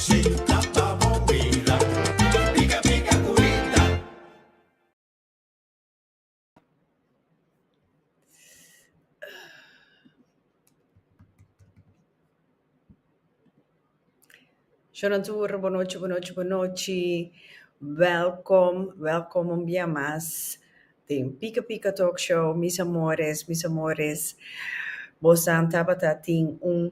Shona tur, bo nochi, bo nochi, bo nochi. Welkom, welkom un bia mas den Pika Pika Talkshow, mis amores, mis amores. Bosan tabata tin un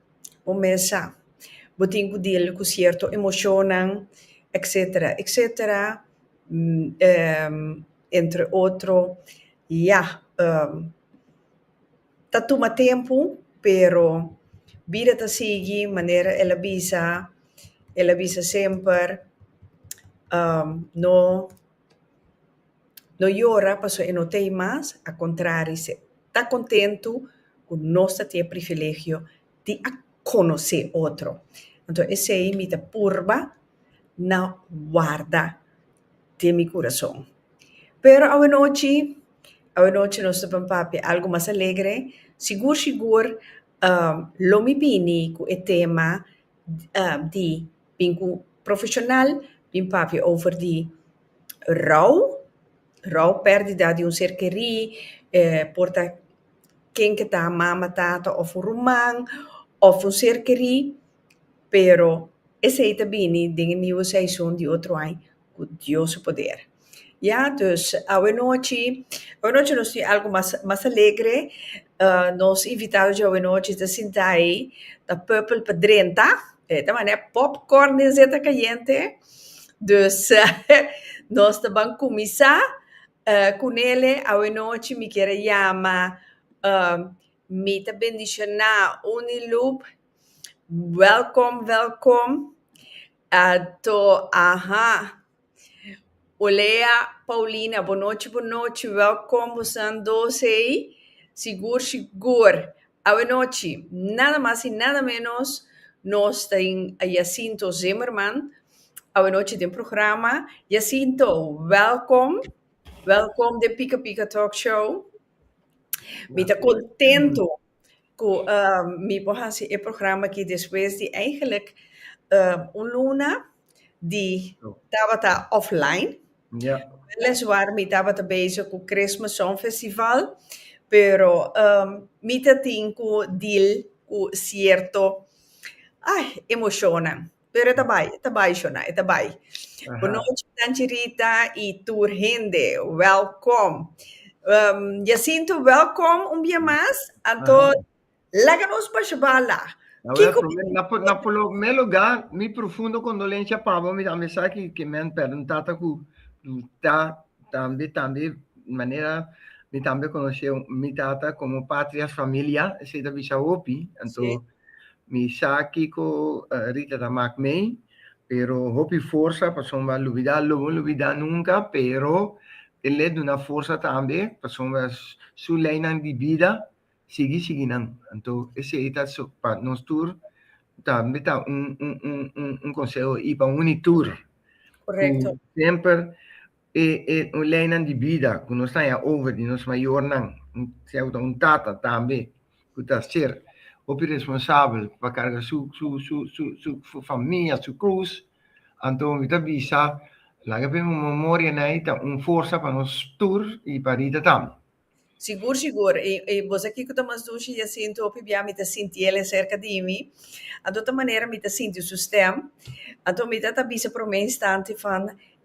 un mes sa bo tin ku dil ku sierto emoshonnan etsetera etsetera entre otro ya ta tuma tempu pero bida ta sigui manera el a bisa el a bisa semper no. No yora pasobra e no ta ei mas, a kontrari e ta kontentu ku nos ta tin e privilegio di a konosé otro. Anto esei mi ta purba na warda den mi kurason. Pero awanochi, awanochi nos ta bin papia algu mas alegre. Sigur sigur lo mi bini ku e tema. di bin ku profeshonal bin papia over di rou, rou pèrdida di un ser kerí, e por ta ken ku ta mama, tata òf un ruman òf un ser kerí, pero esei ta bini den e niu seison di otro ai. cu Dios su poder. Ya, dus, awenochi, awenochi nos tin algo mas, mas alegre. Nos invitado dje awenochi ta sinta ei, ta purple pa drenta. E ta manda e popcorn den zeta cayente. Dus, nos ta ban cuminsa cu Nele. Awenochi mi kier a yama, mi ta bendiciona Uniloop. Welcome, welcome. Ato, Aha. Olea, Paulina, bo nochi, bo nochi, welkom bosan dos ei, sigur, sigur. Awe nochi, nada mas i nada menos, nos ta den Jacinto Zimmerman, awe nochi den programa. Jacinto, welkom, welkom den Pika Pika Talk Show. Mi ta contento. cu mi por haci e programa aki despues di eigenlijk un luna di tabata offline. Weliswaar mi tabata bezig cu Christmas Song Festival, pero mi ta tin cu deal cu cierto emocionnan. Pero e ta bai, e ta bai, Shona, e ta bai. Bonochi, Tanchirita i tur hende. Wèlkom. Jacinto, wèlkom un bia mas. Anto, laga nos pa Shabala. Kiko? Na promé lugá, mi profundo kondolensia pa bo. Mi ta mester aki ku mi a pèrdè un tata ku ta tambe, tambe manera mi tambe konosé mi tata komo patrias familia. Esei ta bishi a hopi. Anto, Mi sa kiko Rita ta mak mei, pero hopi forsa pasobra mi a lubida, lo mi lubida nunka, pero e le duna forsa tambe pasobra su leinan di bida sigui sigui nan. Anto esei ta pa nos tur tambe ta un konseho i pa uni tur ku semper E e leinan di bida ku nos ta haña over di nos mayornan, sea ku ta un tata tambe ku ta ser hopi responsabel pa karga su su su su su su famia, su krus, anto mi ta bisa laga p'e momorianan ei ta un forsa pa nos tur i pa Rita tambe. Sigur sigur i i boso aki ku ta mas dushi ya sinti hopi bia mi ta sinti el e serka di mi anto ta manera mi ta sinti su stèm anto mi ta ta bisa promé instanti fan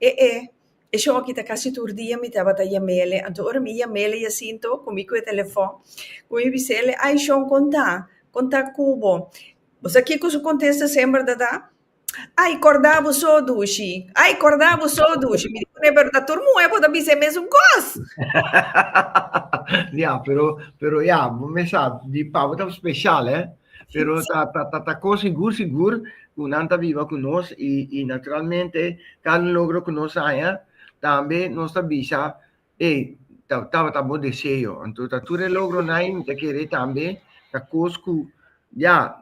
e e e shon aki ta kasi tur dia mi tabata yam'ele anto ora mi yam'ele ya sinto ku mi kue telefòn ku mi bisele ai shon konta konta ku bo boso aki ku su kontesta semper ta ta. Ai corda bo so dushi, ai corda bo so dushi, mi di cune, pero ta tur muhe bo ta bisa e mesun cos. ya, pero, pero ya, bo me sa, di pa bo ta special, eh. Pero ta, ta, ta, ta cos sigur, sigur, cu nan ta biba cu nos y, y naturalmente cada un logro cu nos haña tambe nos ta bisa Ey, ta, tabata bo deseo. Anto ta tur e logronan mi ta kere tambe, ta kos ku, ya,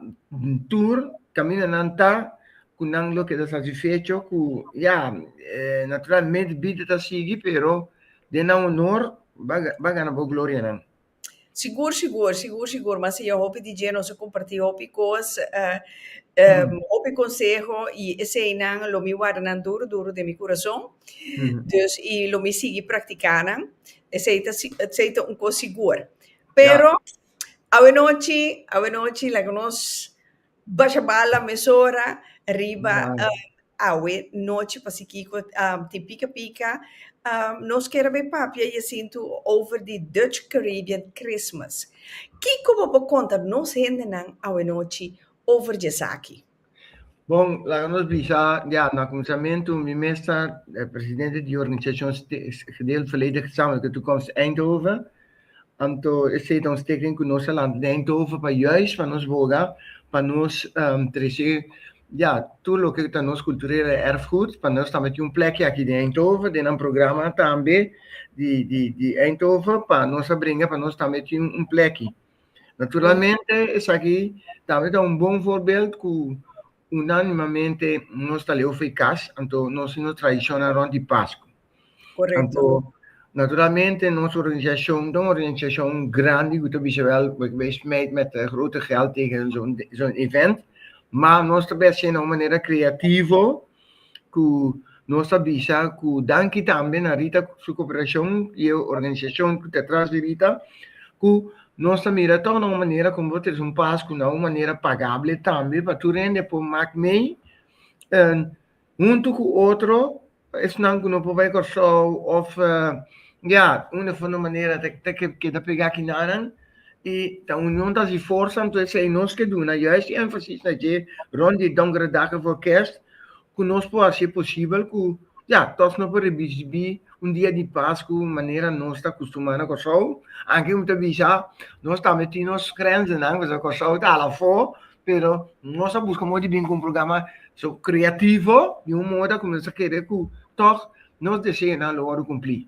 tur kamindanan ta, ku nan lo keda satisfecho ku, ya, naturalmente bida ta sigui, pero den nan honor, bo a, bo a gana bo glorianan. Sigur sigur, sigur sigur, mas e hopi DJ nos a comparti hopi cos, hopi conseho y esey nan lo mi warda nan duro duro den mi curason, dus y lo mi sigui practica nan, esey ta esey ta un cos sigur, pero awe nochi awe nochi laga nos. Basha bala mesora riba awe nochi pa si kiko tin pika pika. Nos kere bay papia Jacintu over di Dutch Caribbean Christmas. Kiko bo por konta nos hendenan awe nochi over djesaki? Bon, laga nos bisa di anto. Na kuminsamentu mi mes ta presidente di organisashon Gedeeld Verleden Gezamenlijke Toekomst Eindhoven. Anto esei ta un steken ku nos a lanta den Eindhoven pa juis pa nos boga pa nos trese ya tur loke ta nos kulturele erfgoed pa nos tambe tin un plekki aki den Eindhoven den nan programa tambe di di di Eindhoven pa nos a bringa pa nos tambe tin un plekki. Naturalmente esaki tambe ta un bon voorbeeld ku Unánimamente nos ta leu fei kas, anto nos tin un tradishonnan rònt di Paskua. Korekto. Anto, naturalmente nos organisashon ta un organisashon grandi ku ta bisa wèl ku bai smijt mèt grote gèld tegen zo'n evènt, ma nos ta bai hasinan un manera kreativo. ku nos ta bisa ku danki tambe na Rita su koperashon i e organisashon ku ta tras di Rita ku nos ta mira tòg na un manera kon bo ta trese un pas ku na un manera pagable tambe pa tur hende a por mak mei huntu ku otro esnan ku no por bai Kòrsou òf ya unda for manera ta keda pegá ki nanan. y ta union ta haci forza entonces si nos ke duna juist di énfasis na dje rond di Donkerdagen for Kerst cu nos por haci posibel cu ya toch nos por recibi un dia di pas cu manera nos ta custumá na Kòrsou anke mi ta bisa nos tambe tin nos grenzennan pasobra Kòrsou ta hala afó pero nos a busca modo di bini cu un programa so creativo di un moda cu nos ta kere cu toch nos deseonan lo wòrdu cumpli.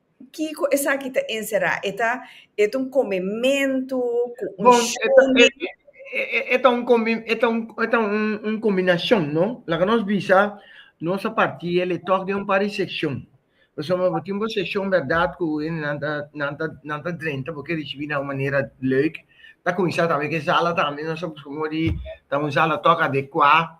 Kiko esaki ta enserá? E ta e ta un komementu ku un Bon, e ta, e, shone. e, e, e ta un kombi, e ta un, e ta un, un kombinashon, no? Laga nos bisa, nos a partí el e tòg den un par di sekshon. Pasobra bo tin bo sekshon bèrdat ku hende nan ta, nan ta, nan ta drenta, bo ke risibí na un manera lèuk. Ta kuminsá tambe ku e sala tambe, nos a buska modo di ta un sala tòg adekuá.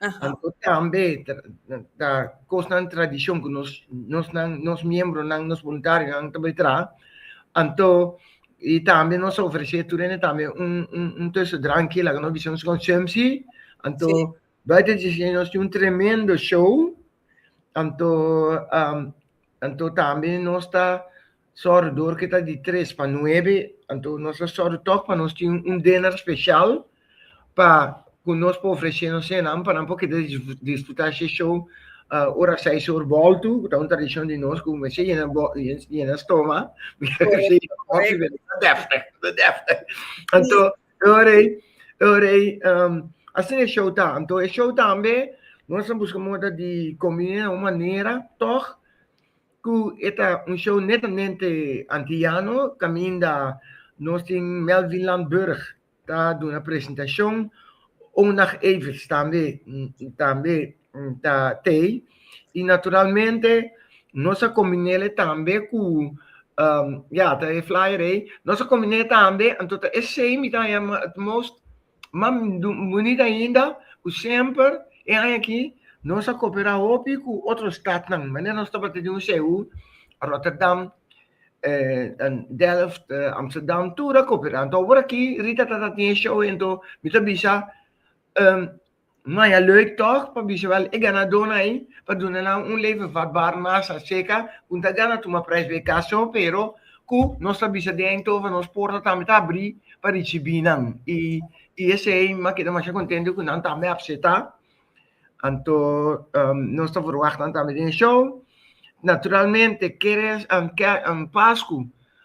Anto tambe ta kosnan tradishon ku nos nosnan nos miembronan nos boluntarionan ta bai traha anto i tambe nos ta ofresé tur hende tambe un un un tusu dranki laga nos bisa nos konsumsi anto buiten di esei nos tin un tremendo show Anto am anto tambe nos ta sòru dor ke ta di tres pa nuebe, anto nos ta sòru tòg pa nos tin un dinner speshal pa ku nos por ofreshe nos señanan pa nan por keda disfrutá she show ora seis or bòltu, ku ta un tradishon di nos ku mester yena yena stoma, mester ofreshe ta dèfte, ta dèfte. Anto Oorei, oorei, um, asina e show ta. Anto e show tambe, nos a busca moda di combina na un manera, toch, cu eta un show netamente antillano, caminda nos tin Melvin Landburg ta duna presentacion, Onag Evers tambe, tambe ta tei y naturalmente nos a combinele tambe cu ya ta e flyer ey nos a combine tambe anto ta esey mi ta yama het most ma boni ainda cu semper e aña aki nos a copera hopi cu otro stadnan manera nos tabata di un CU Rotterdam Delft Amsterdam tur a copera anto awor aki Rita ta tin e show ento mi ta bisa. Maya leuk tòg pa bisa wèl e ganadónan ei pa duna nan un leven vatbaar masa seka ku no ta gana tuma prijs pa e kaso pero ku nos ta bisa den Eindhoven nos porta tambe ta abrí pa risibí nan i i esei mi a keda masha kontento ku nan tambe a apseta anto nos ta verwagt nan tambe den e show naturalmente keres Pasku.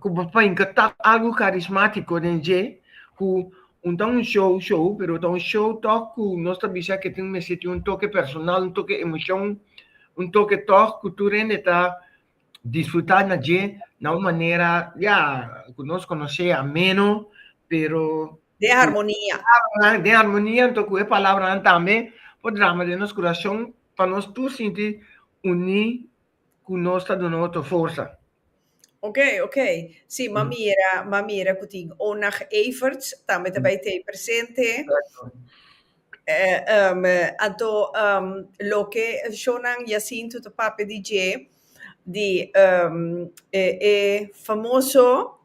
ku papá i ka ta algu karismátiko den dje ku un ta un show show pero ta un show tòg ku nos ta bisa ke tin mester tin un toke personal, un toke emoshon, un toke tòg ku tur hende ta disfrutá na dje na un manera ya ku nos konos'é ameno pero Den harmonia. den harmonia anto ku e palabranan tambe por drama den nos kurashon pa nos tur sinti uní cu nos ta duna otro forsa. Ok, ok. Sí, m'a mira, m'a mira cu tin Onag Everts tambe ta bay t'ey presente. Exacto. Eh, ehm, anto, ehm, loke shownan Jacinto ta papia di dje, di, ehm, e, e famoso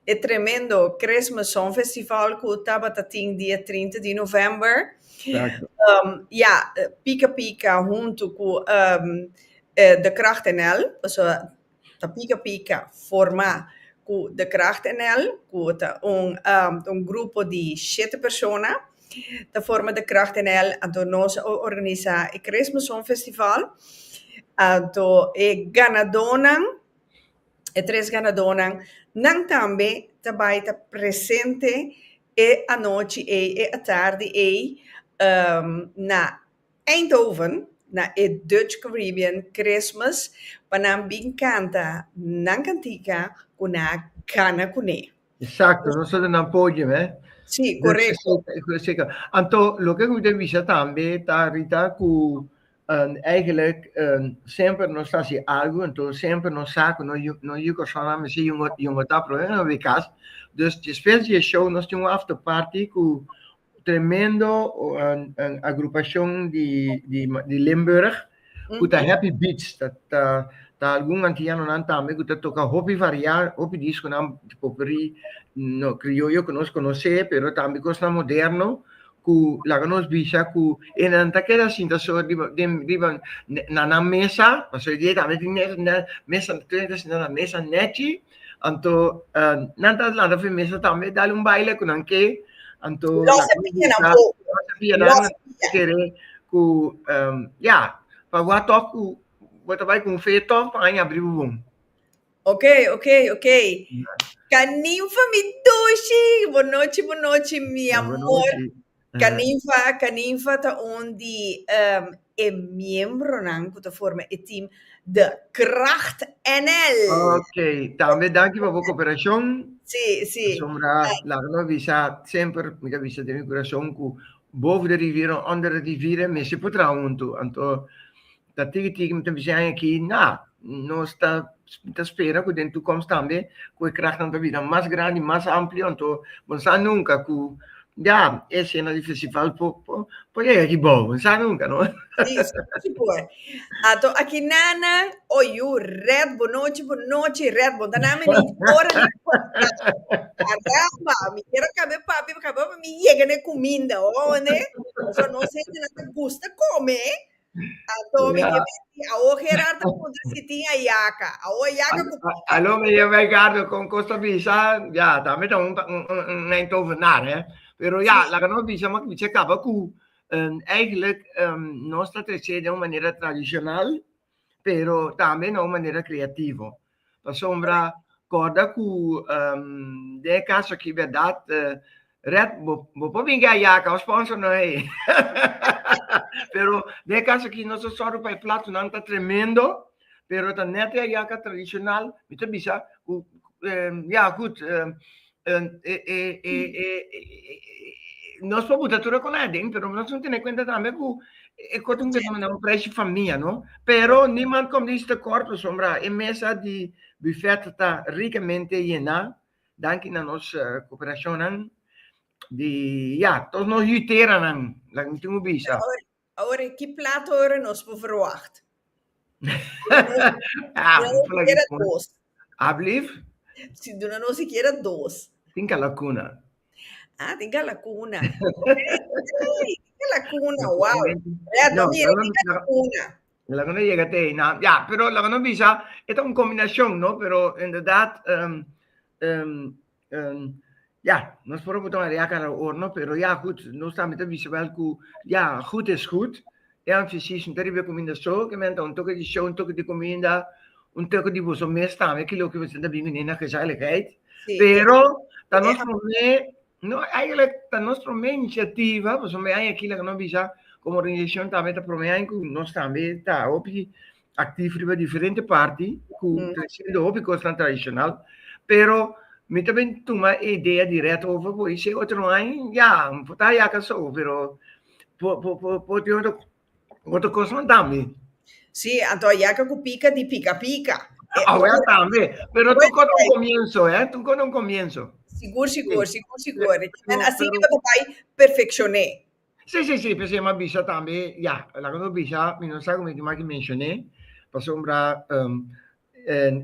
E tremendo Christmas Song Festival cu tabata tin dia trinta di november. Exacto. Um, ja, Pika Pika huntu cu um, eh, De Kracht NL, also ta Pika Pika forma cu De Kracht NL, cu ta un, um, un grupo di shete persona, ta forma De Kracht NL, anto nos a organisa e Christmas Song Festival, anto e ganadonan, E tres ganadónan nan tambe ta bai ta presente e anochi ei, e atardi ei, na Eindhoven, na e Dutch Caribbean Christmas, pa nan bin kanta nan kantica cu nan a gana cu ne. Exacto, nos a duna nan podium, eh. Sí, correcto. Anto, loke cu mi ta bisa tambe ta Rita cu Eigenlijk semper nos ta hasi algu, enton semper nos sa ku no no yu kòrsounan mester yu un yu un otá problema na wi kas. Dus despues di e show nos tin un after party ku tremendo agrupashon di di di Limburg ku ta Happy Beats. Ta ta ta algun antianonan tambe ku ta toka hopi variá, hopi diskonan, poperí, no krioyo ku nos konosé, pero tambe kosnan moderno ku laga nos bisa ku e nan ta keda sinta so riba den riba na nan mesa, pasobra e di ei tambe tin mesa na mesa tur hende ta sinta na mesa nèchi, anto nan ta lanta for e mesa tambe dal un baile ku nan ke, anto Lo se pia nan po, lo se pia nan po, nan ta kere ku ya, pa bo a tòg ku bo ta bai ku un feyo tòg, pa nan a bai abri bo bon. Ok, ok, ok. Kaninfa mi Tushi, bonochi, bonochi mi amor. Kaninfa, Kaninfa ta un di um, e miembronan ku ta forma e team The Kracht NL. Ok, tambe danki pa bo kooperashon. Si, si. Sombra, laga nos bisa semper, mi ta bisa den mi kurashon ku boven de riviera, onder de riviera, mester por traha huntu. Anto, Ta tigi tigi mi ta bish'é aña aki, na, nos ta ta spera ku den tukoms tambe ku e krahnan ta bira mas grandi, mas amplio, anto bo no sa nunka ku ya e sena di festival por por por yega di bou, bo no sa nunka no. Si, si por. Anto aki nana, oi yu, rèt bo nochi bo nochi rèt bo ta na mi ni ora ni Caramba, mi quiero kabe papi, kabe papi mi yega n'e kuminda, ho'o ne? Pasobra nos hende nan ta gusta kome, Anto mi ke menti, awo Gerard a puntra si tin a yaka. Awo a yaka ku pon pa. Aló, meneer Wijngaarden, kon kos ta bisa, ya, ta mita un un Eindhovenaar, hè. Pero ya, laga nos bisa nomás ku mi chek kaba ku eigenlijk nos ta trece den un manera tradishonal, pero tambe na un manera kreativo. Pasobra kòrda ku den e kas aki bèrdat Red bo por bin gaya ka bo spònso no hei pero den e kas aki nos ta sòru pa e platonan ta tremendo pero ta nèt e ayaka tradishonal mi ta bisa ku ya gud nos por buta tur e koná aden, pero nos tin tene kuenta tambe ku e kos ta un fenomeno, un preshi famia, no? Pero niman kòm di Sister Cor pasobra e mesa di bufèt ta rikamente yená, danki na nos koperashonnan di, ya, todos nos yuteranan, laga mi tin ku bisa. Awor e ki plat ora nos por verwagt? Alblief? Si duna nos e kiera dos. Tin kalakuna. Ah, tin kalakuna. Ey, tin kalakuna, wow. Rea, don mi tin kalakuna. Laga no yega te ei nan. Ya, pero laga no bisa, e ta un kombinashon, no? Pero, inderdat, Um, ja, nos por botar een react aan de oorlog, pero ja, goed, nos también te wisse wel ku, ja, goed is goed. E aan fysiek, no te ribe kominda so, ke men ta un toke di show, un toke di kominda, un toke di boso mes tambe, ke loke boso ta bini na gezelligheid. Sí. Pero, ta nos prome, no, eigenlijk, ta nos prome iniciativa, boso me aan aki, la no bisa, como organisación también ta prome aan ku nos también ta hopi, actief riba diferente parti cu ta haciendo hopi cosnan tradicional, pero mi ta bin tuma e idea diret over bo y si e otro no hay, ya, mi por ta a yaka so, pero por, por, por, por tin otro, otro cosnan tambe. Sí, anto a yaka cu pica di pica pica. Awe tambe, pero tur cosa un comienzo, eh, tur cosa un comienzo. Sigur, sigur, sigur, sigur. Asina bo ta bay perfeccion'é. Sí, sí, sí, p'esei m'a bisa tambe, ya, laga no bisa, mi no sa kome tin maki menshoné, pasobra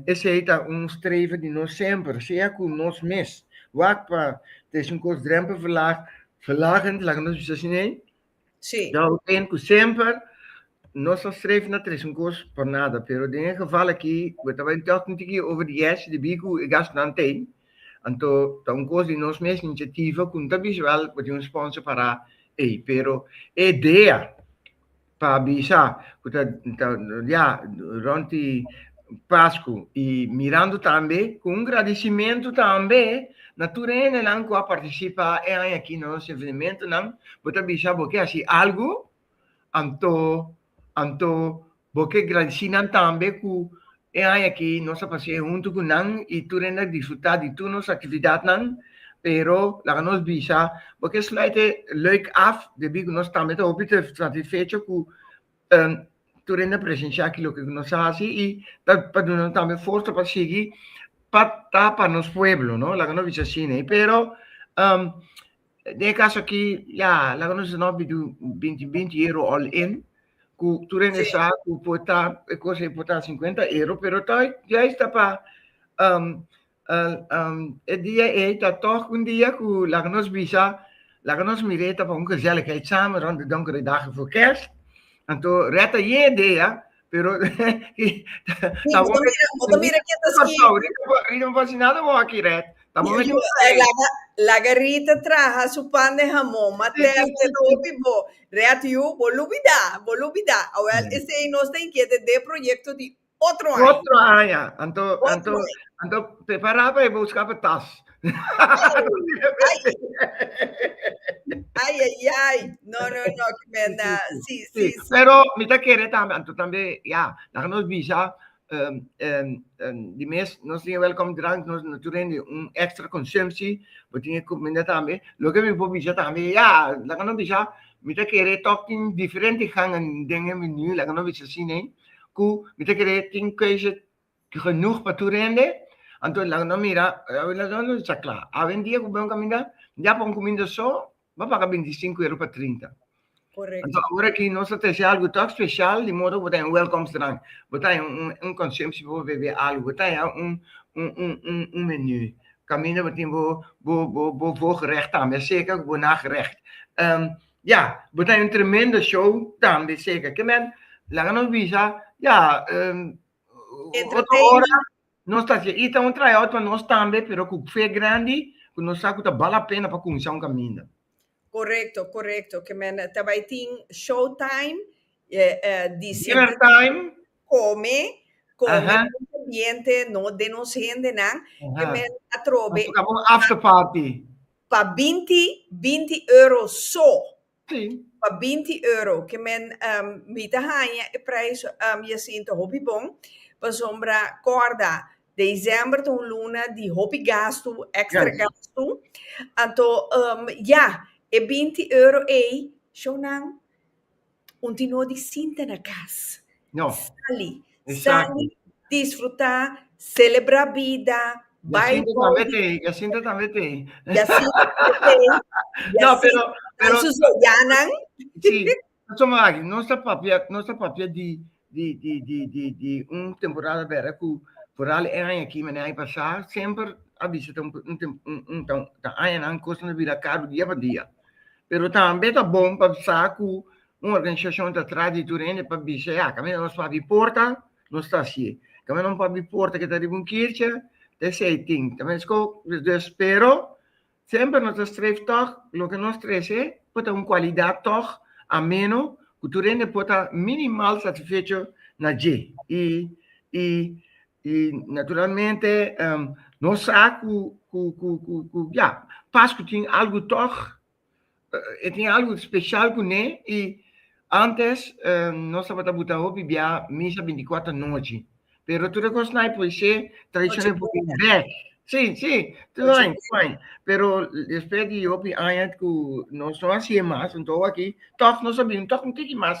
esei ta un streven di nos semper, sea ku nos mes wak pa ta es un kos drempelverlag, verlagend, laga nos bisa asina ei? Sí. Ya bo tende ku semper nos ta streven na tres un kos por nada, pero den e geval aki, bo ta bai tòg un tiki over di yèshi di biku e gastunan t'ei, Anto ta un kos di nos mes inisiativa ku no ta bisa wèl ku tin un sponsor pará ei, pero e idea pa bisa ku ta ya rònti Pasku i mirando tambe ku un gradisimentu tambe na tur hendenan ku a partisipá e aña aki na nos evenementonan, bo ta bisa bo ke hasi algu, anto anto Bo ke gradisí nan tambe ku e aña aki nos a pas'é huntu ku nan i tur hende a disfrutá di tur nos aktividatnan. Pero laga nos bisa, bo ke sluit e lèuk af debí ku nos tambe ta hopi satisfecho ku tur hende a presenshá aki loke ku nos a hasi i ta pa duna nos tambe forsa pa sigui pa ta pa nos pueblo, no? Laga nos bisa asina. Pero Den e kaso aki, ya, laga nos di no bidu binti binti euro all in, ku tur hende Sí. sa ku por ta e kos ei por ta sinkuenta euro, pero ta juist ta pa um, uh, um, e dia ei ta tòg un dia ku laga nos bisa, laga nos mir'é ta pa un gezelligheidsamen rònt de donkere dagen voor kerst. Anto rèt ayé dea Pero tabo me mira que te escribo. Rita me pasa nada vos aquí red. Tabo me laga laga Rita traha su pan de jamón materno te topi bo red you bo lubida bo lubida awel ese ei nos ta inquiete de proyecto di otro aña. Otro aña anto anto anto prepara pa e boskap tas. Ai, ai, ai, no, no, no, que me anda, sí, sí, sí. Pero mi ta kere tambe, anto tambe, ya, laga nos bisa, um, um, um, di mes, nos tin welcome drank, nos no tur hende un extra consumptie, bo tin e comida tambe, loke mi por bisa tambe, ya, laga nos bisa, mi ta kere tok tin diferente gangen den e menu, laga nos bisa sí, nee, cu mi ta kere tin keuze genoeg pa tur hende, anto laga nos mira, laga nos ta cla, awendia cu bo caminda, ya pa un cuminda so, bo a paga binti sinku euro pa trinta, anto awor aki nos ta trece algu tok special, di modo cu bo ta un welkomstdrank, bo ta un consumptie pa bo bebe algu, bo ta un menu, caminda bo tin bo voorgerecht tambe, a seca cu bo nagerecht, ya, bo ta un tremendo show tambe seca, kinder laga nos bisa, ya, Otro ora nos ta hasié ita un tryout pa nos tambe, pero ku fe grandi ku nos sa ku ta bal lapena pa kuminsá un kaminda. Korekto, korekto, ke men ta bai tin show time, dinner time, kome, kome bon ambiente no den nos hendenan, ke men atrobe after party pa binti, binti euro so, Sí. Pa binti euro ke men um, mi ta haña e prijs um, Jacinto hopi bon, pasobra korda december ta un luna di hopi gastu, extra yes. gastu, anto um, ja, e binti euro ei, shownan, un tino di sinta na kas. No. Sali, Exacto. sali, disfruta, celebra bida, bai Jacinto tambe boli, te, Jacinto tambe te. Jacinto te, No, pero, Jacinto, pero, su soyanan. sí. Paso mo aki, nos ta papia, nos ta papia di, di, di, di, di, di un temporada bera cu vooral e aña aki, mane aña pasá, semper a bisa ta un, un, tem- un, un, ta, ta añanan cosnan ta bira caru dia pa dia. Pero tambe ta bon pa sa cu Un organisashon ta tras di tur hende pa bisa, ya, kaminda nos por abi porta, nos ta hasié. Kaminda nos por abi porta ku ta riba un kirchi, ta esei tin. Ta meskó. Despues, pero, semper nos ta streef tòg loke nos trese por ta un kualidat tòg ameno ku tur hende por ta minimal satisfecho na dje. I, i, i naturalmente, nos sa ku, ku, ku, ku, ku, ya, pas ku tin algu tòg E tin algu special cu ne y antes nos tabata buta hopi bia misa binticuater anochi pero tur e cos na poise tradicion e por bini bek, si, si, tur aña, tur aña pero despues di hopi aña cu nos no haci'e mas anto awor aki toch nos a bini un toch un tiki mas.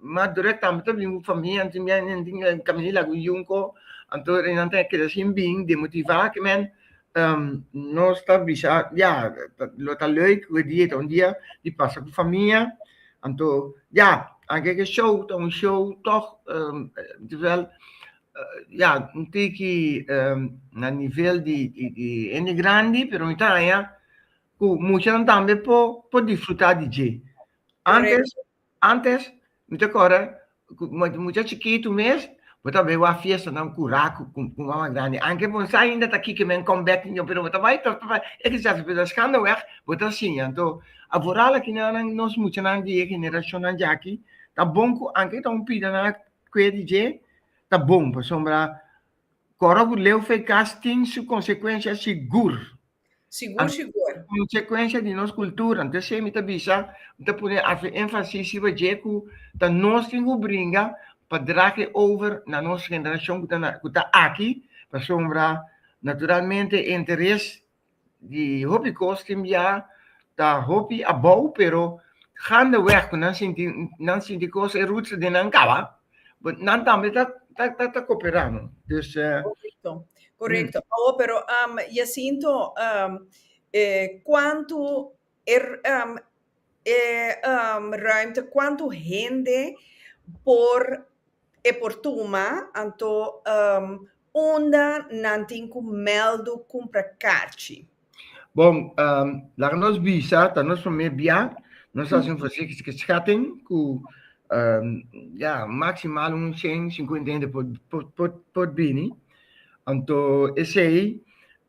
Mas durek tambe ta bin ku famia anto mi a kami di lagu yunko anto nan ta keda sin bin demotiva aki men nos ta bisa ya lo ta leuk ku e dia ta un dia di pasa ku famia anto ya anke ke show ta un show tog terwel ya un tiki na nivel di hende grandi pero mi ta haña ku muchanan tambe por disfruta di dje antes Antes mi ta corda cu bo mucha chikitu mes bo ta bay wak fiestanan cura cu mama grandi anke bo sa ainda ta kiki men come back tin yo pero bo ta bay tor tor e ki sa pero skando weg bo ta siña anto a voral akinanan nos muchanan di e generacionnan dje aki ta bon cu anke ta un pidanan a cue di dje ta bon pasobra coro cu leu fey cas tin su consecuencia sigur Sigur sigur. Consecuencia di nos cultura. Enton esey mi ta bisa, mi ta pone afe enfasis riba dje cu ta nos tin cu bringa pa drahe over na nos generacion cu ta na cu ta aki pasobra naturalmente e interes di hopi cos tin bia ta hopi abou pero gandeweg cu nan sinti nan sinti cos e roots den nan caba But nan tambe ta, ta, ta, ta cooperá, no? Dus... eh, Correcto, correcto. Oh, pero um, Jacinto, um, eh, cuánto er, um, eh, um, ruimte, cuánto hende por e por tuma, anto um, Unda nan tin cu meldu cumpra cachi? Bon, laga nos bisa, ta nos prome bia, nos haci un fasikiske schatting cu ya, maximal un cien cincuenta hende por bini. Anto esey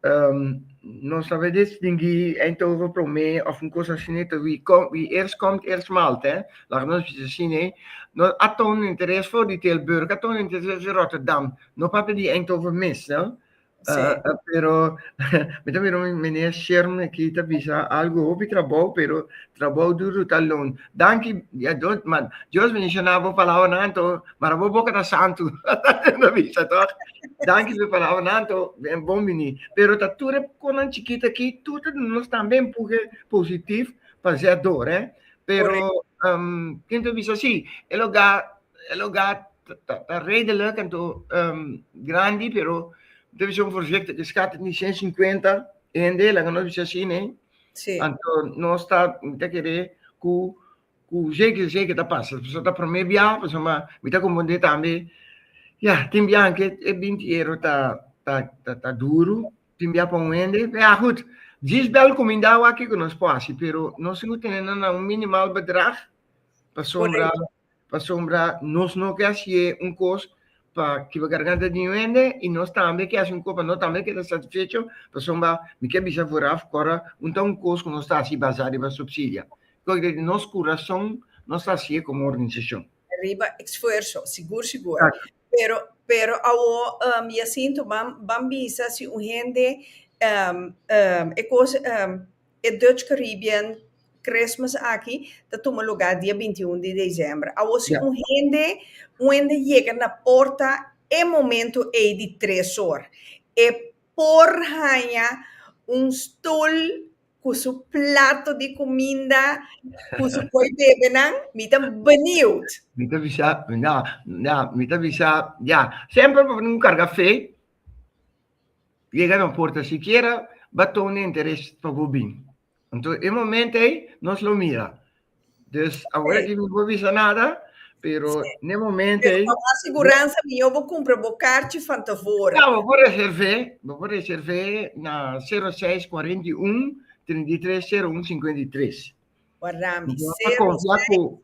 nos ta wens distingui entre oro prome of un cos asine ta wie com wie eerst komt eerst maalt hè laga nos bisa si ne no a toon interes for di Tilburg a toon interes di Rotterdam no papia di Eindhoven mes no pero mi ta bira meneer Sherm aki ta bisa algo hopi trabou pero trabou duru ta loon. Danki ya Dios, ma Dios mi shana bo palabra nan to, para bo boca ta santo. no bisa toch? Danki su palabra nan to, ben bon bini. Pero ta ture konan chiquita ki, tutu nos también puge positief pa zia door, eh. Pero, um, ken to bisa si, el oga, el oga ta, ta redelijk en to, um, grandi, pero, ta bisa un voorzichtig, skat ni ciento cincuenta, ende, laga nos bisa si, nee. Sí. Anto nos ta, mi ta kere ku, ku zeker zeker ta pasa. Pasobra ta promé biaha, pasobra ma mi ta kompondé tambe, ya, tin biahan ke e binti euro ta, ta, ta, ta duru, tin biaha pa un hende, ya gut, djis bèl kumindá wak kiko nos por hasi, pero nos tin ku tene nan na un minimal bedrag, pasobra pasobra nos no ke hasié un kos pa kiba garganta di un hende i nos tambe ke hasi un kos pa nos tambe keda satisfecho, pasobra mi ke bisa foraf ku ora un ta un kos ku nos ta hasi basá riba supsidia, kos ke ta di nos kurason nos ta hasié komo organisashon. Riba esfuerso, sigur sigur. Pero, pero awo Jacinto, ban, ban bisa si un hende e kos E Dutch Caribbean Christmas aki ta tuma lugá dia binti un di desèmber. Awor si un hende wende yega na porta e momentu ei di tres or, e por haña un stul ku su plato di kuminda ku su koi bebenan, mi ta beniut. Mi ta bisa, ya, ya, mi ta bisa, ya, semper por un karga fe. yega no porta sikiera baton di interes pa bo bin. Anto e momento ei nos lo mira. Dus awor aki mi no por bisa nada, pero n'e momento ei. Pero pa mas siguransa mihó bo kumpra bo karchi van tevore. Ya, bo por reservé, bo por reservé na sero seis kuarenta i un, trinta i tres, sero un, sinkwentu i tres. Wardami, sero seis.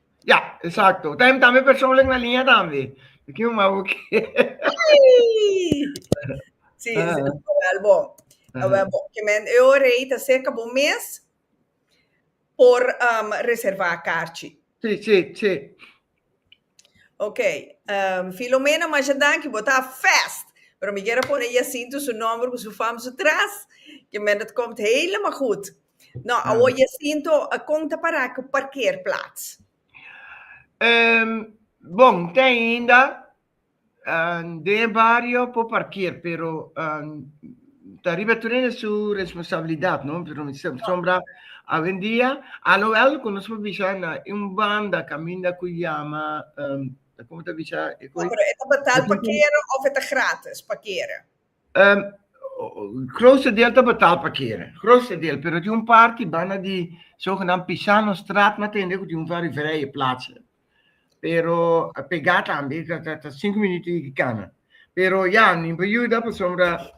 Ya, exacto. Tem tambe persoonlijk na linea tambe. Ik no ma ook. Sí, ah. sí, wel bon. Uh -huh. bon. Que men eu rei ta cerca bo mes por um, reserva karchi. Sí, sí, sí. Ok. Um, Filomena Majadanki, bota fast. Pero mi quiero poner Jacinto su nombre, su fam, su tras. Que men dat komt helemaal goed. No, awor Jacinto, kon ta para ku parkeerplats? Bon, te ainda den e bario por parkeer, pero ta riba tur hende su responsabilidat, no? Pero mi sa asombra awendia, aloel ku nos por bisa na un banda kaminda ku yama, kon ta bisa e kos? No, pero e ta betal parkeer of e ta gratis parkeer? Um, grootste deel te betaal parkeren. Grootste deel, pero die een paar die bijna die zogenaamd Pisano straat na tende, die een very vrije plaats. Pero eh, pegat aan die, dat dat dat cinco minuten die kanen. Pero ja, niet bejuda, per sombra.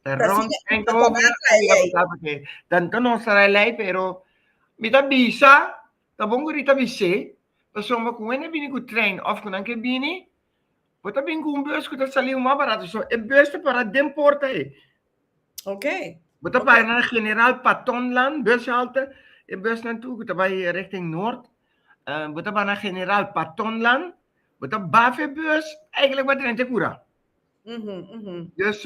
eh, Rond Precies, en dat komen, dat dat dat is dat parkeren. Dan dan ons rij lei, pero mita bisa, dan bongo rita bise, per sombra kun wende bini ku trein of kun anke bini, Bo ta bin ku un bus ku ta saliu mas barato, so e bus ta para den porta ei. Ok. Bo ta para na General Patonland bushalte, e busnan tur ku ta bai richting nort, bo ta para na General Patonland, bo ta baf e bus, eigentlik bo ta drenta e kura. Dus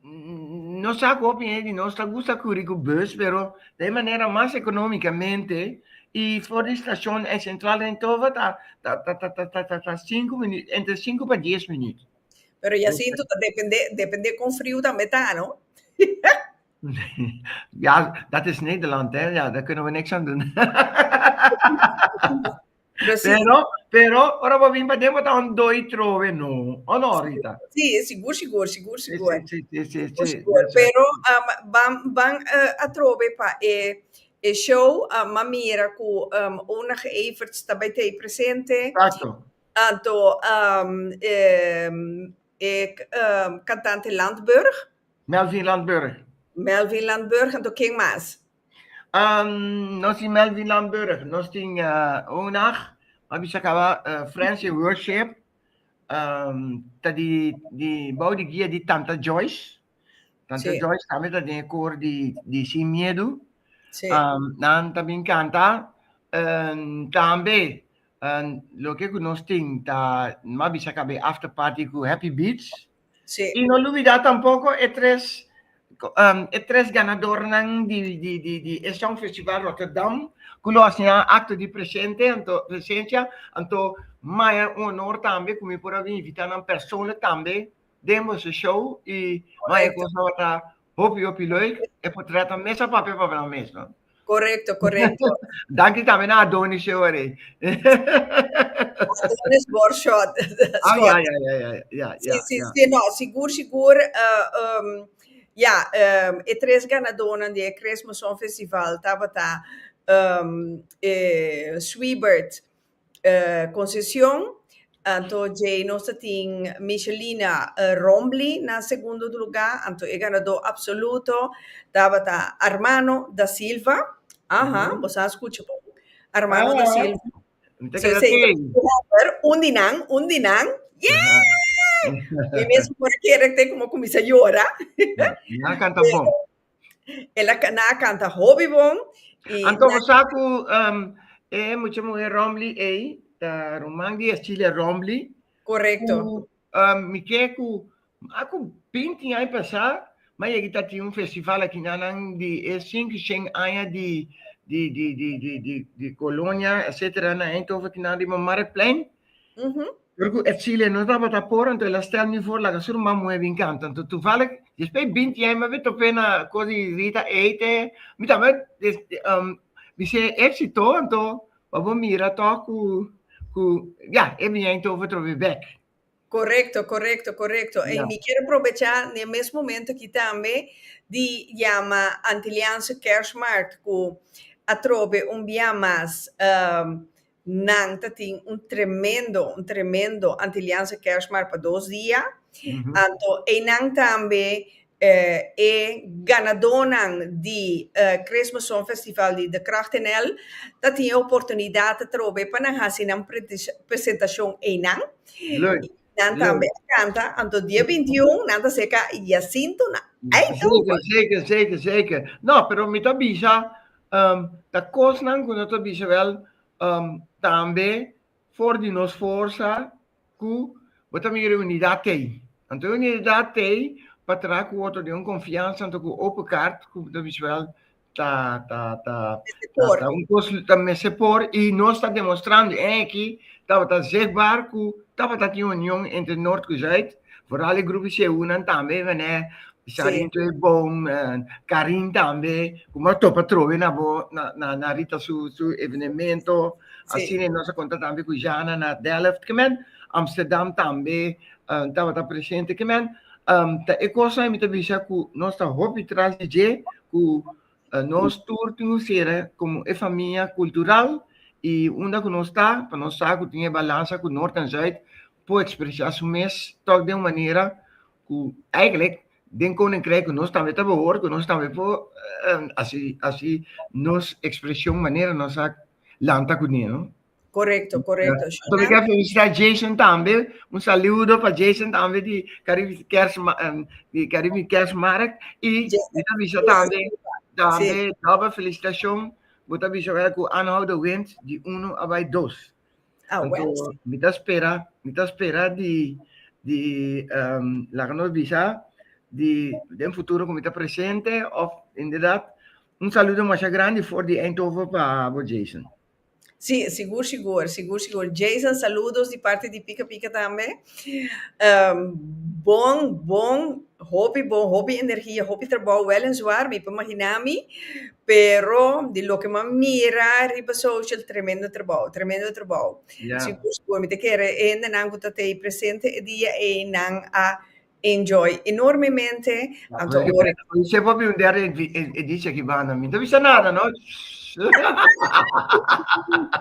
nos sa cu hopi hende di nos ta gusta curi cu bus, pero ta e manera mas economicamente, y for di stacion en Central Eindhoven ta ta sinku minuut, entre sinku pa dies minuut. Pero Jacinto, ta depende, depende con friu tambe ta no? Ja, dat is Nederland hè, ja, daar kunnen we niks aan doen. Precies. Pero, pero, ora bo vin pa den, bo ta un doi trove no. O no, Rita? Sí, sigur, sigur, sigur, Sí, sigur. sí, sí, sí, sí, Sigur, sí. sigur. That's right. Pero um, ban, ban eh, a trove pa e, e show, um, ma mira cu um, Onag Everts ta bij tei presente. Exacto. Anto um, eh, e c- um, cantante Landburg, Melvin Landburg. Melvin Landburg, anto ken mas? Um, nos in Melvin Lamburg, nos tin uh, un nacht, maar bisa kaba uh, Friends in Worship, um, ta di, di, bouw di guia di Tanta Joyce, Tanta Sí. Joyce también ta den koor di, di Sin Miedo, Sí. um, nan también canta, um, también, um, lo que ku nos tin, ta, ma bisa kaba after party ku Happy Beats, Sí. I no lubidá tampoko e tres e tres ganadornan di di di di e Songfestival Rotterdam ku lo hasinan akto di presente anto presensia anto maya un honor tambe ku mi por a invitá nan persoonlijk tambe den boso show i maya kos tabata Hopi hopi leuk e por trèt nan mes a papia pa nan mes no. Correcto, correcto. Danki tambe na Adonis show arí. Adonis Borshot. Ah, ya, ya, ya, ya, ya, sí, ya, sí, ya. sí, no, sigur, sigur. Uh, um, ya, um, e tres ganadónan di e Cresmo Song Festival tabata um, eh, Sweebert, Concepcion, anto dje nos ta tin Michelina Rombly na segundo lugar, anto e ganadó absoluto tabata Armano da Silva, aha, bo sa scucha bon, Armano da Silva, un di nan, un di nan, yehh! Mi mes por a kere te como cuminsa yora, El a na a canta hopi bon y Anto bo sa cu um, e mucha muher Rombly ey, ta ruman di Ercilia Rombly, correcto. cu um, mi ke cu mas cu binti aña pasá, ma yegi ta tin un festival aki na nan di e cincu cien aña di di di di di di di colonia etcetera na Eindhoven aki na riba Marktplein. Uhu. Pero cu Ercilia no tabata por, anto el a stel mi for laga su ruman muhe bin canta. Anto tuvalig, despues binti yai mi a bin top'é na cos di Rita Ate, mi tamba bis'é exito, anto pa bo mira tog cu, cu, ya, e bin yai tov otro be bek. Corecto, corecto, corecto. En mi kier aprobecha n'e mes momento aki tambe di yama Antiliaanse Kerstmarkt, cu atrobe un bia mas Nan ta tin un tremendo, un tremendo Antiliaanse Kerstmarkt pa dos dia. Mhm. Anto einan tambe eh, e ganadonan di eh, Christmas Song Festival di De Kracht NL ta tin e oportunidat atrobe pa nan hasi nan prete- presentacion einan. Leuk. Nan tambe a canta, anto dia 21 nan ta seca Jacinto na Eindhoven. Zeker, zeker, zeker. No, pero mi ta bisa, um, ta cosnan cu no ta bisa wel, um, tambe for di nos forza cu bo ta mira e unidad tei. Anto e unidad tei pa tra cu otro den un confianza, anto cu open kaart, cu bo ta bisa wel, ta ta ta ta, ta un kos ta mester por i nos ta demostrando en aki tabata zichtbaar ku tabata tin union entre Nort ku Zuid, vooral e grupo Seuna tambe manera Sarinto e bon, Karin tambe ku bo a topa trobe na bo na Rita su su evenemento, asina nos a konta tambe ku Jana na Delft kemen, Amsterdam tambe tabata presente kemen, ta e kosnan mi ta bisa ku nos ta hopi tras di dje. ku nos tur tin un sera komo e famia kultural i unda ku nos ta pa nos sa ku tin e balansa ku Nort en Zuid por ekspresá su mes tòg den un manera ku eigelik den Koninkrijk ku nos tambe ta bohòri ku nos tambe por hasi nos ekspreshon manera nos a lanta kuné. Correcto, correcto. So mi quiero felicitar Jason también. Un saludo para Jason también de Caribe Kerstmarkt. Ehm, de Caribe Kerstmarkt. Y avisa también, también, sí. doble felicitación. Vos avisa que aanhoud de winst de 1 a bij 2. Ah, Entonces, bueno. Mi ta espera, mi ta espera de, de um, la que nos avisa, de, de futuro que mi ta presente, of inderdaad, un saludo más grande voor die Eindhoven para Jason. Si, sigur sigur, sigur sigur. Jason saludos di parti di Pika Pika tambe. Ehm, bon, bon, hopi bon, hopi energia, hopi trabou, wel en zwaar, mi por maginá mi, pero di loke m'ha mira riba social, tremendo trabou, tremendo trabou. Sigur sigur, mi ta kere hendenan ku ta tei presente e dia ei, nan a Enjoy enormemente. Anto ora. Oye, se papi un der editie ki banda mi. No bisa nada, no?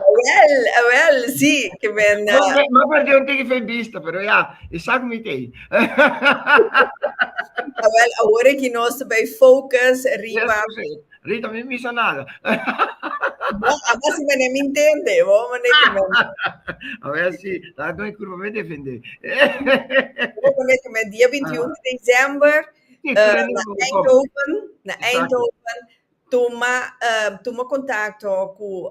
Awel, awel, si, ke men. Ma perde un tiki fe bista, pero ya, e sa ku mi tei. Awel, awor e ki nos ta bai focus riba. Rita mi misa nada. Abo si mene mi intende, bo mene ki men. A ver si, la no curva me defende. Bo mene ki men dia 21 de december na Eindhoven, na Eindhoven tuma tuma contacto cu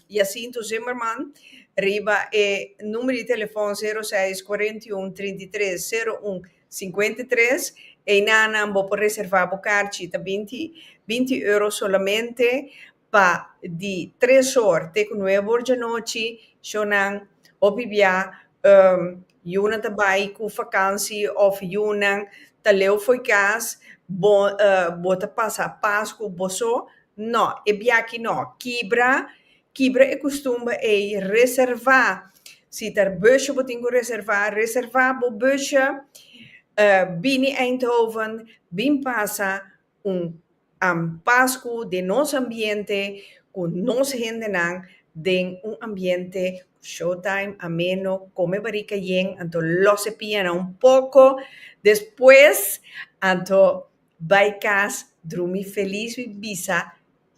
Jacinto Zimmerman riba e numero di telefon 06 41 33 01 Sinkuenta i tres, Einanan bo por reservá bo karchi, ta binti binti euro solamente pa di tres or te ku nuebe or di anochi, shornan hopi bia yunan ta bai ku fakansi òf yunan ta leu for kas, bo bo ta pasa pas ku boso, nò e biachi nò kibra Kibra e kustumber ei, reservá. Si ta bùsje bo tin ku reservá, reservá bo bùsje. Bini Eindhoven, bin pasa un Pasku den nos ambiente, ku nos hendenan, den un ambiente showtime, ameno, kome barika yen. Anto lòs e pianan un poko, despues anto bai kas drumi felis, wi bisa.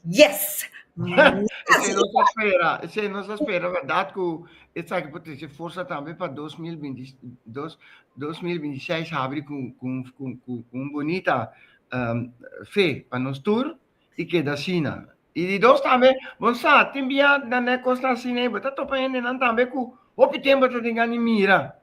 Yes! Esei nos a spera, esei nos a spera berdad cu esaki por trece forsa tambe pa dos mil binti dos, dos mil binti seis habri cu cu cu cu cu un bunita fe pa nos tur y keda asina. Y di dos tambe bo sa tin biaha nan e cosnan asina y bo ta topa hendenan tambe cu hopi tempo ta tin gana di mira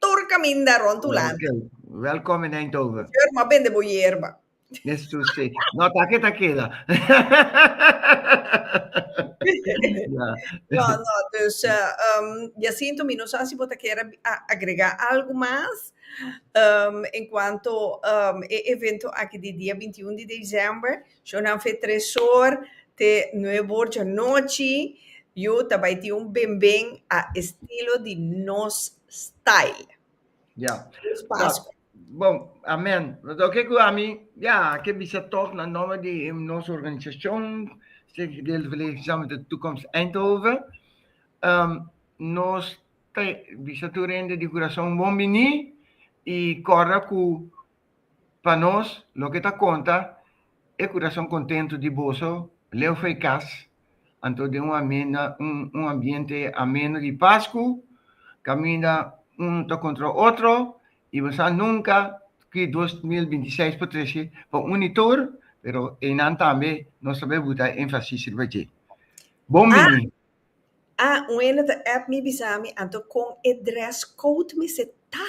Tur caminda rond Hulanda. Welcome in Eindhoven. Seur, m'a bende bo yerba. Nes tu si. No, ta ke ta keda. ja. No, no, dus uh, um, Jacinto, mi no sa si bo ta kera agrega algo mas um, en cuanto um, e evento aki di dia 21 di december. Sho nan fe tresor te nueve or dja nochi yu ta bai tin un benben a estilo di nos style. Ya. Feliz Pascua. Bon, amen. Lo ke ku ami ya ke bisa tog na nomber di nos organisashon, Stichting Gedeelde Verlegen Samen met de Toekomst Eindhoven. Nos ta bisa tur hende di kurason bon bini i kòrda ku Pa nos, loke ta konta e kurason kontentu di boso leu fei kas, anto den un amenda, un, un ambiente ameno di Pasku, kaminda uno ta kontra otro, i bo sa nunka ki dos mil binti i seis por trese pa uni tur, pero einan tambe nos ta bay buta enfasis riba dje. Bon bini! Ah, un hende ta app mi bisa mi anto kon e dress code mester ta.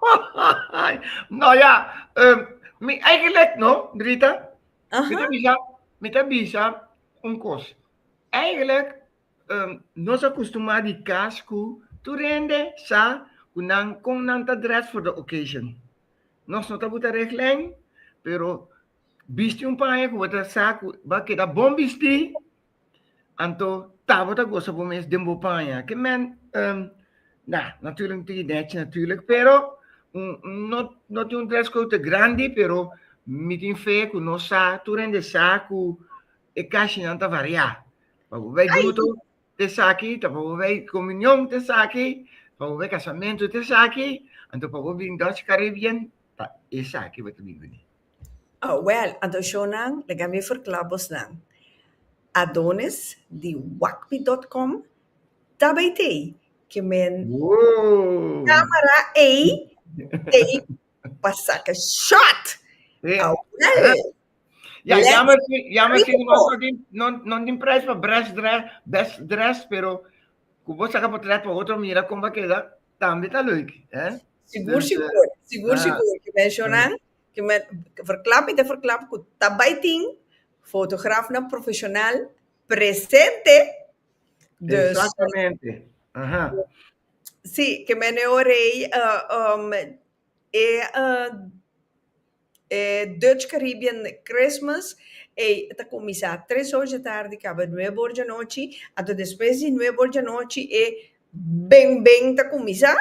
Hahahay! No ya, em, mi eigenlijk no, Rita. Mi ta Aha. bisa, mi ta bisa un kos. Eigenlijk, em, nos a kustumá di kas ku tur hende sa ku nan kon nan ta dress for the occasion. Nos no ta buta reglen, pero bisti un paña ku bo ta sa ku bo a keda bon bistí. Anto, ta bo ta gosa bo mes den bo paña. Ke men, um, na, natuurlijk no tin idea chi natuurlijk, pero un, no, no tin un dress code te grandi, pero mi tin fe ku no sa, tur hende sa ku e kashinan ta variá. Pa bo bai bruto, te saki, ta pa bo bai komunion, te saki, pa bo bai kasamentu, te saki, anto pa bo bin Dutch Caribbean, ta e saki bo ta bin bini. Awèl, adorashonnan, laga mi ferkla bos nan. Adonis di Wakpi dòt kòm ta bai tei ke men kamera ei tei pa saka shòt. Awèl! Ya, jammer si, jammer si no bos no tin, no, no tin prijs pa brèsh drè, best dressed, pero ku bo saka potrèt pa otro mira kon bo a keda, tambe ta leuk, hè? Sigur, sigur. Sigur, sigur, ke men shonnan Kimet verklap i ta verklap ku ta bai tin fotografnan profeshonal presente. Dus. Exactamente. Aha. Si, ke men e ora ei e e Dutch Caribbean Christmas ei ta kuminsá tres or dje tardi kaba nuebe or dje anochi. Anto despues di nuebe or dje anochi e beng beng ta kuminsá.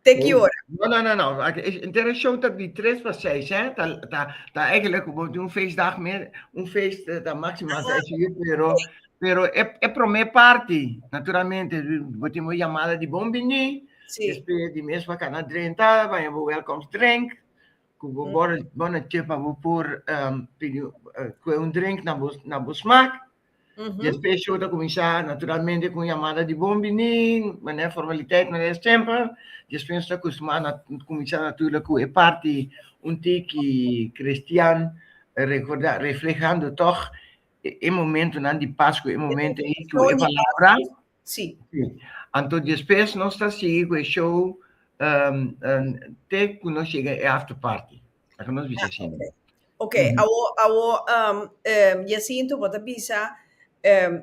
Te ki ora? No, no, no, no. Entera show ta di tres pa seis, eh. Ta, ta, ta eigenlijk como un feestdag meer. Un feest ta maximo a seis uur, pero, pero e, e prome party, naturalmente, bo tin bo llamada di bon bini, Sí. después di mes pa cana drenta, baña bo welcomes drink, cu bo bottle, bottle chip pa bo por um, pidi, uh, coe un drink na bo, na bo smaak. Ujú. Después show ta comenzá naturalmente con llamada de bon biní, mané formaliteit, mané siempre. Después nos ta acostumá na comenzá natuurlijk cu e parti un tiki cristian recordá, reflehando toch e e momentonan di Pascu, e momento ei cu e palabra Sí. Sí. Anto despues nos ta sigui cu e show um, um, te cu nos llega e after party. La cu nos bisa asina. Okay. Ok, mm -hmm. awo, awo um, um, Jacinto, bo ta bisa um,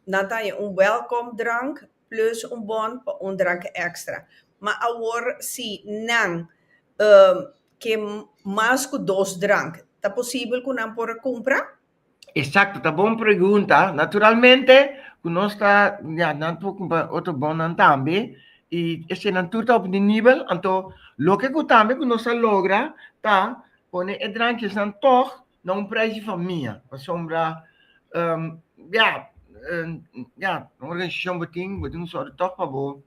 nan ta un welcome drank plus un bon pa un drank extra. Ma awor si nan um, ke mas cu dos drank, ta posibel cu nan por cumpra? Exacto, ta bon pregunta. Naturalmente cu nos ta, ya, nan por cumpa otro bonnan tambe. Y eseinan tur ta op di nivel, anto loke cu tambe cu nos ta logra ta pone e drankjesnan tog na un prijs di famia, pasobra, ya, ya, un organisacion bo tin, bo tin un sòrdo tog pa bo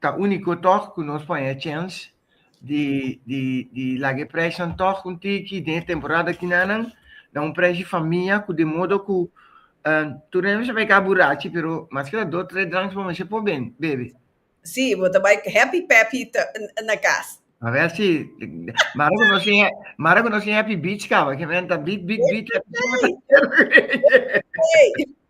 Ta úniko tòg ku nos por haña chèns di laga e prèshnan tòg un tiki den e temporada kinanan. Na un prèsh di famia ku den modo ku tur nèt bo sa bai kaba burachi pero mas ke ta dos tres dranks bo mester por bebe. Sí, bo ta bai happy peppy na kas. A ver si mara ku nos tin mara ku nos tin happy beach kaba ke menta beat beat beat happy.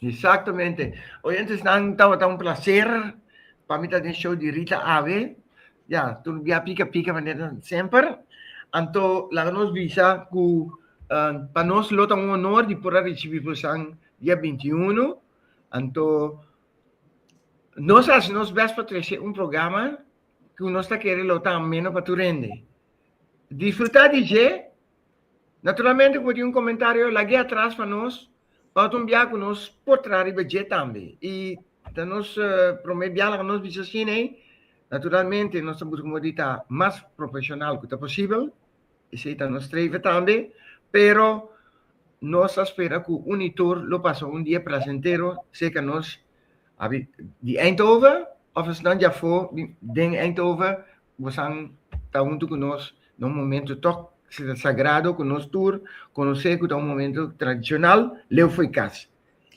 Exactamente. Oyentesnan, tabata un placer pa mi ta den show di Rita Ave. Ya, tur bia pica pica manera semper. Anto, laga nos bisa cu uh, pa nos lo ta un honor di por a recibi bosan dia 21. Anto, nos haci nos best pa trece un programa cu nos ta kere lo ta ameno pa tu rende. Disfruta DJ, Naturalmente ku bo tin un komentario lagu'e atras pa nos oto un bia ku nos por traha riba dje tambe. I ta nos prome biaha ku nos bisa asina ei. Naturalmente nos ta buska modi ta mas profeshonal ku ta posibel, esei ta nos streve tambe, pero nos ta spera ku un i tur lo pasa un dia plasentero, seka nos Abi di Eindhoven of esnan dja for di den Eindhoven bosan ta huntu cu nos na un momento tok sagrado cu nos tur conoce cu ta un momento tradicional leu fo'i cas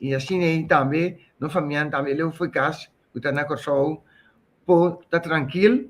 y asina e tambe nos famianan tambe leu fo'i cas cu ta na Corsou por ta trankil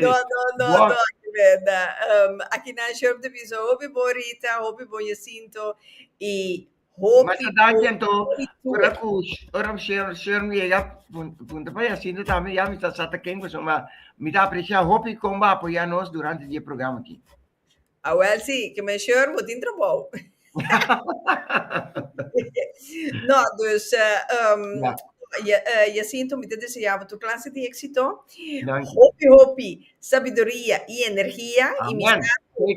No, no, no, Bo- no, aki benda. Um, aki na Sheriff de Piso, hopi bon Rita, hopi bon Jacinto, y hopi Mas a daña entonces, bon Itu. ora cu ora Sher Sher me llega pun- punta pa ya sinto también ya me está sata ken pues ma me está aprecia hopi comba apoya nos durante die programa aquí. A wel si, ke men sheur bo tin trabou. No, dus Jacinto mi ta deseá bo tur klase di éksito, hopi hopi sabiduria i energia i mi sa ku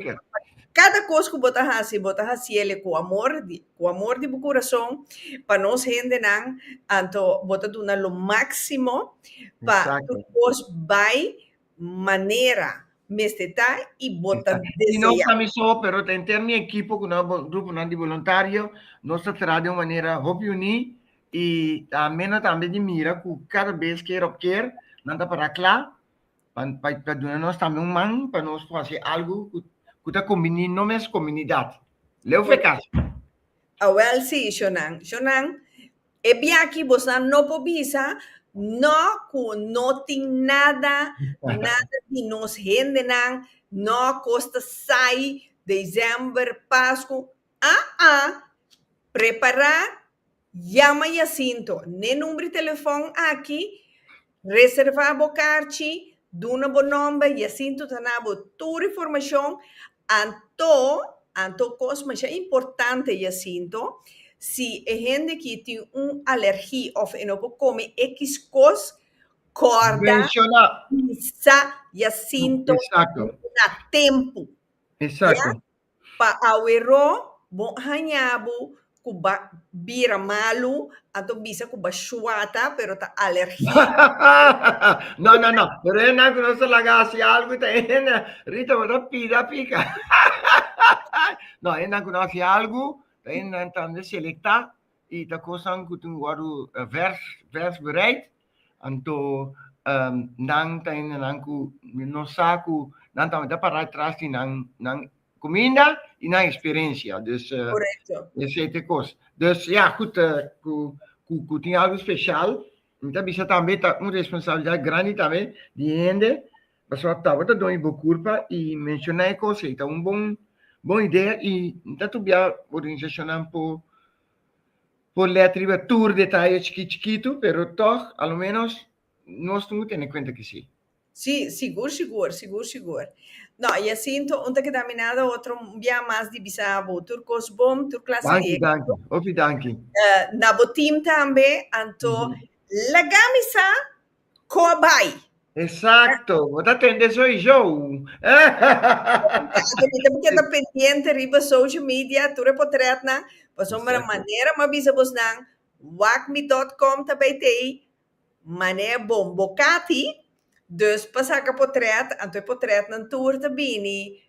kada kos ku bo ta hasi bo ta hasi el ku amor, ku amor di bo kurason pa nos hendenan, anto bo ta duna lo máksimo pa tur kos bai manera mester ta y bo ta desea. Y no samiso pero ta henter mi ekipo cu nan gruponan di boluntario, nos ta traha den un manera hopi uní y ta mena tambe di mira cu cada bes ker op ker nan ta para cla pa duna nos tambe un man pa nos por haci algo cu ta combini no mes comunidad. Leu fue el casi. Awel si, Shonan. Shonan, E biachi bosnan no por bisa no cu no tin nada, nada di nos hendenan, no cos ta sai December, Pascu, aa prepara, yama Jacinto n'e number di telefon aki, Reserva bo karchi, duna bo nomber y asin tu ta na bo tur informacion anto anto cos masha importante y asin to si e hende ki tin un alergi of e no por come x cos corda bisa y asin to na tempo ya. Pa aweró bo haña bo ku ba bira malu, anto bisa ku ba shuata, pero ta alergia. No, no, no. Pero hennan ku nos ta laga hasi algu ta hende, Rita, bo ta pida a pika. No, hennan ku no hasi algu ta hendenan tambe selektá i ta kosnan ku tin wòrdu vers, versbereid. Anto nan ta hende nan ku no sa ku nan ta manda pará tras di nan nan kuminda i nan eksperensia. Dus esei ta e kos. Dus ya kut ku tin algu spesial mi ta bisa tambe ta un responsabilidat grandi tambe di e hende pasobra tabata done bo kurpa i menshoná e kos ei ta un bon bon idea i mi ta tubiá organisashonnan por Por lèt riba tur detaye chikit chikitu, pero tòg a lo ménos nos no tene kuenta ke sí. Sí, sigur sigur, sigur sigur. Nò, Jacinto, un ta keda minada, otro un biaha mas di bisa bo tur kos bon, tur klase di éksito. Danki, danki. Hopi danki. Na bo team tambe, anto laga mi sa Cobai. Exacto, bo ta tende soy show. Tato, mi ta keda pendiente riba social media, tur e potretnan, pasobra Exacto. manera ma bisa bos nan, wacmi.com ta bay tey, mane bon bo cati, dus pa saca potret, anto e potretnan tur ta bini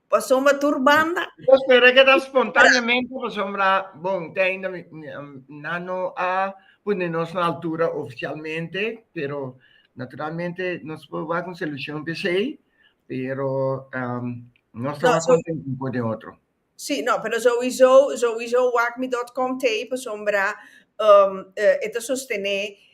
Pasobra tur banda. Bo spera ke ta spontaneamente pasobra bon te ainda nan no a pone nos na altura oficialmente pero naturalmente nos por wak un solucion pa esei pero nos ta mas contento un por den otro. Sí, no, pero souiso, souiso wak mi dot com te pasobra e ta sostene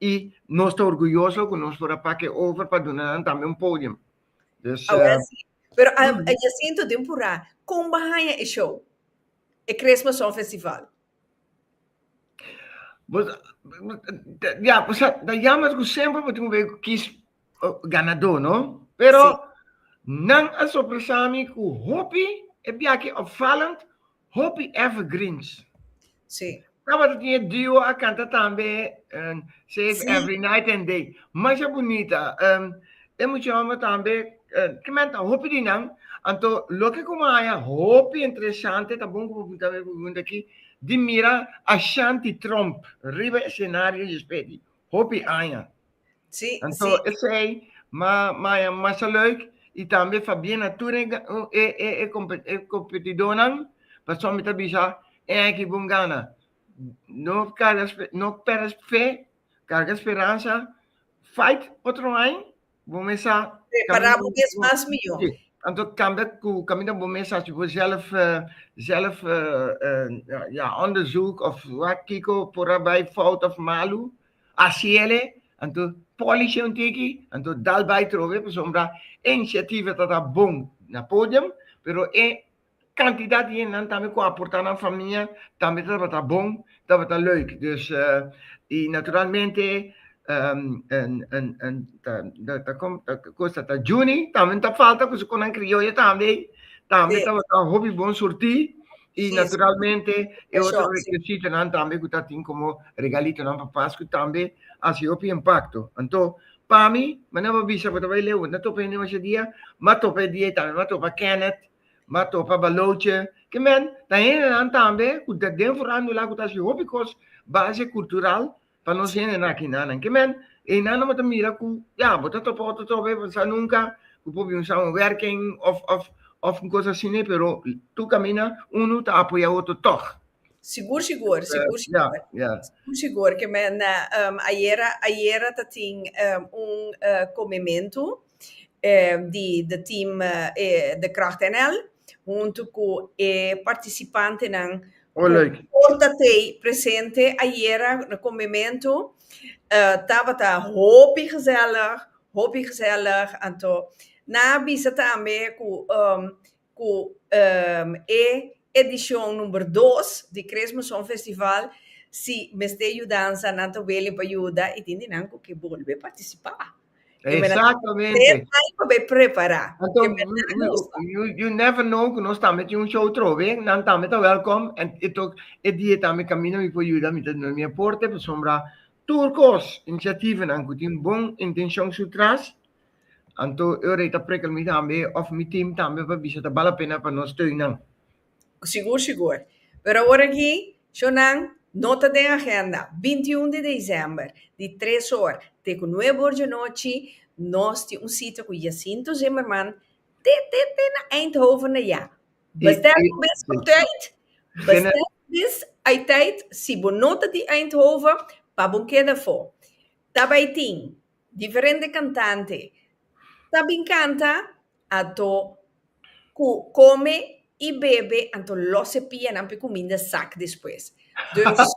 y nos ta orguyoso cu nos por a pak e over pa duna nan tambe un podium. Dus. Awor si. Pero a Jacinto den Pura con bo a haya e show? E Christmas Song Festival. Bo ya bo sa ta jammer cu semper bo tin un wee cu kies ganador no? Pero nan a sorpresa mi cu hopi e biachi opvallend, Hopi evergreens. Sí. Tabata tin e duo a canta tambe, um, Save sí. Every Night and Day. Masha bonita. Um, e mucha hombre tambe, uh, que menta hopi di nan, anto lo que como haya hopi interesante, ta bon como punta me pregunta aquí, di mira Ashanti Trump, riba escenario y espedi, hopi aña. Sí, Anto, sí. esei, ma, ma, masa leuk, i tambe fa bien na tur e, e, e, e, compet, e competidornan, pasobra mi ta bisa e aki bon gana. No carga, no perde fe, carga speransa, fight otro ain, bo mesa... Prepara bo mes mas mihor. Sí. Anto cambia cu caminda bo mesa, si bo zelf, zelf, uh, uh, ja, onderzoek of wat kiko por a bai fout of malu, A ciele, anto polish un ti aki, anto dal bai trohe pasobra e iniciativa ta ta bon na podium, pero e cantidad di hendenan tambe cu a aporta nan famia tambe tabata bon, tabata leuk. Dus y naturalmente Juni tambe no ta falta cu su conan crioyo tambe, tambe tabata hopi bon surti. Y naturalmente e otro requisitonan tambe cu ta tin como regalitonan pa Pascu tambe a haci hopi impacto. Anto, pa mi, me no a bisa bo ta bay leu, no topa hende masha dia, m'a topa e dia y tambe m'a topa Kenneth, m'a topa Baloche, ke men ta hendenan tambe cu ta den forando la cu ta haci hopi cos base cultural pa nos hende nakinan. Ke men, einan no bo ta mira ku, ya, bo ta topa otro trobe, bo no sa nunka ku por bin un samenwerking òf, òf, òf un kos asina, pero tur kaminda unu ta apoyá otro tòg. Sigur, sigur, sigur, sigur. Sigur, sigur, ke men ayera, ayera ta tin un komementu di de team de Kracht NL huntu ku e partisipantenan ku por ta tei presente ayera na kombimentu. Tabata hopi gesèlig, hopi gesèlig. Anto nan a bisa tambe ku ku e edishon number dos di Kresme Songfestival si mester yudansa nan ta wili pa yuda i tin di nan ku ke bolbe partisipá. Ke mester Exactamente. tres aña pa bai prepará. Anto, Ke mester we, we, ajusta. you, you never know ku nos tambe tin un show trobe, nan tambe ta wèlkòm, en e tok e dia tambe kaminda mi por yuda, mi ta duna mi aporte, pasobra tur kos, inisiativanan ku tin bon intenshon su tras, Anto ora ei ta prekel mi tambe of mi team tambe pa bisa ta bal a pena pa no steun nan. Sigur sigur. Pero awor aki show nan no ta den agenda. Binti i un di december di tres or te ku nuebe or dje nochi nos tin un sita ku Jacinto Zimmerman te te te na Eindhoven na ya. Bestel bo bes ku tait, bestel bo bes ei tait si bo no ta di Eindhoven pa bo keda afo. Tabei tin. Diferente cantante ta bin canta anto cu come y bebe anto los e pianan p'e cuminda sak despues. Dus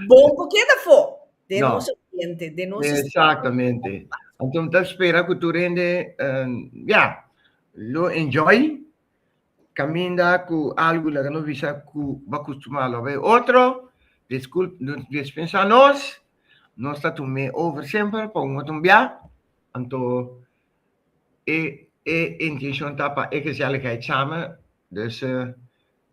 bon cu keda fo den No. nos ambiente, den nos sistema. Exactamente. Anto mi ta spera cu tur hende, eh, ya, lo enjoy caminda cu algu laga nos bisa cu bo a custumá lo bay otro, discul, des pensá nos, nos ta tum'é over semper pa un otro bia, anto e, e intencion ta pa e gezelligheidsamen, dus,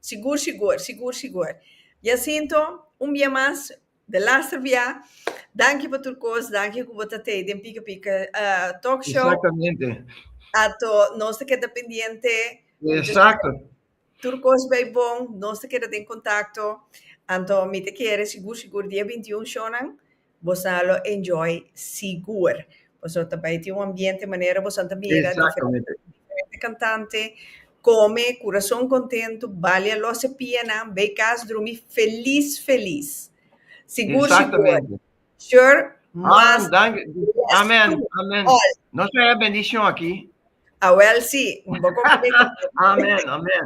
Sigur, sigur, sigur, sigur. Jacinto, un bia mas, de laster bia. Danki pa tur kos, danki ku bo ta tei den Pika Pika Talk Show. Exactamente. Ato nos ta keda pendiente. Exacto. Tur kos bai bon, nos ta keda den kontakto. Anto mi ta kere sigur, sigur dia bintiun shownan Boso a lo enjoy sigur. Boso ta bai tin un ambiente manera boso a ta mira diferente cantante, come curason contento, balia los e pianan, bay cas drumi feliz feliz. Sigur sigur. Sure must. Amen amen. Nos a bendición aki. Awel si, un bo compromet cu Dios. Amen, amen.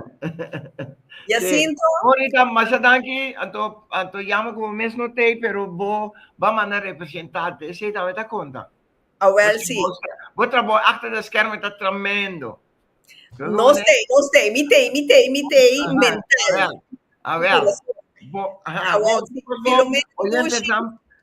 Jacinto. Monica, masha danki. Anto, anto jammer cu bo mes no t'ei, pero bo ba manda representante. Esey ta meta conta. Awel si. Bo trabou achter de schermen ta tremendo. Nos t'ei, nos t'ei, mi t'ei, mi t'ei, mi t'ei, mental. Awel, awel. Bo, aha, bo, bo, oyente sam,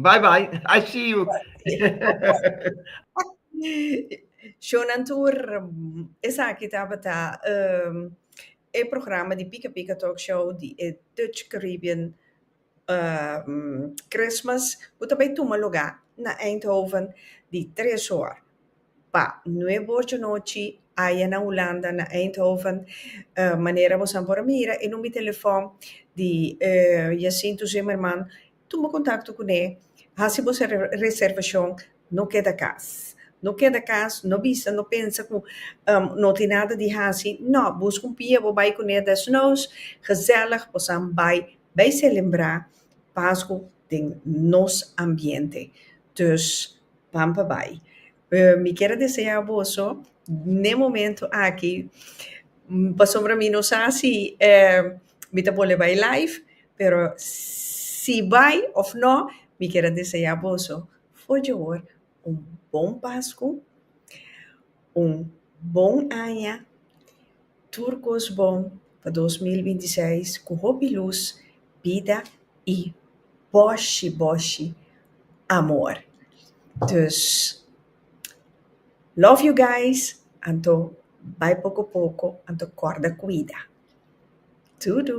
Bye bye, I see you. Shownan tur, esaki tabata um, e programa di Pika Pika Talk Show di e Dutch Caribbean um, Christmas, ku ta bay tuma lugá na Eindhoven di tres hor pa nuebe hor dje nochi, aya na Hulanda, na Eindhoven. Uh, manera bosan por a mira e number di telefòn di uh, Jacinto Zimmerman, Tuma kontakto ku ne. Hasi bo su reservashon. No keda kas. No keda kas, no bisa, no pensa ku no tin nada di hasi. No, buska un pia bo bai ku ne desnoos, gezellig, bo san bai, bai selebrá Pasku den nos ambiente. Dus, ban pa bai. Mi kier a desea boso n'e momento aki, pasobra mi no sa si mi ta bolbe bai live, pero si bai of no, mi kier a desea boso, for jabor, un bon Pascu, un bon Aña. Tur kos bon pa dos mil binti seis ku hopi lus, bida i boshi boshi amor. Dus, love you guys, anto bai poko poko, anto kòrda kuida. Tudu!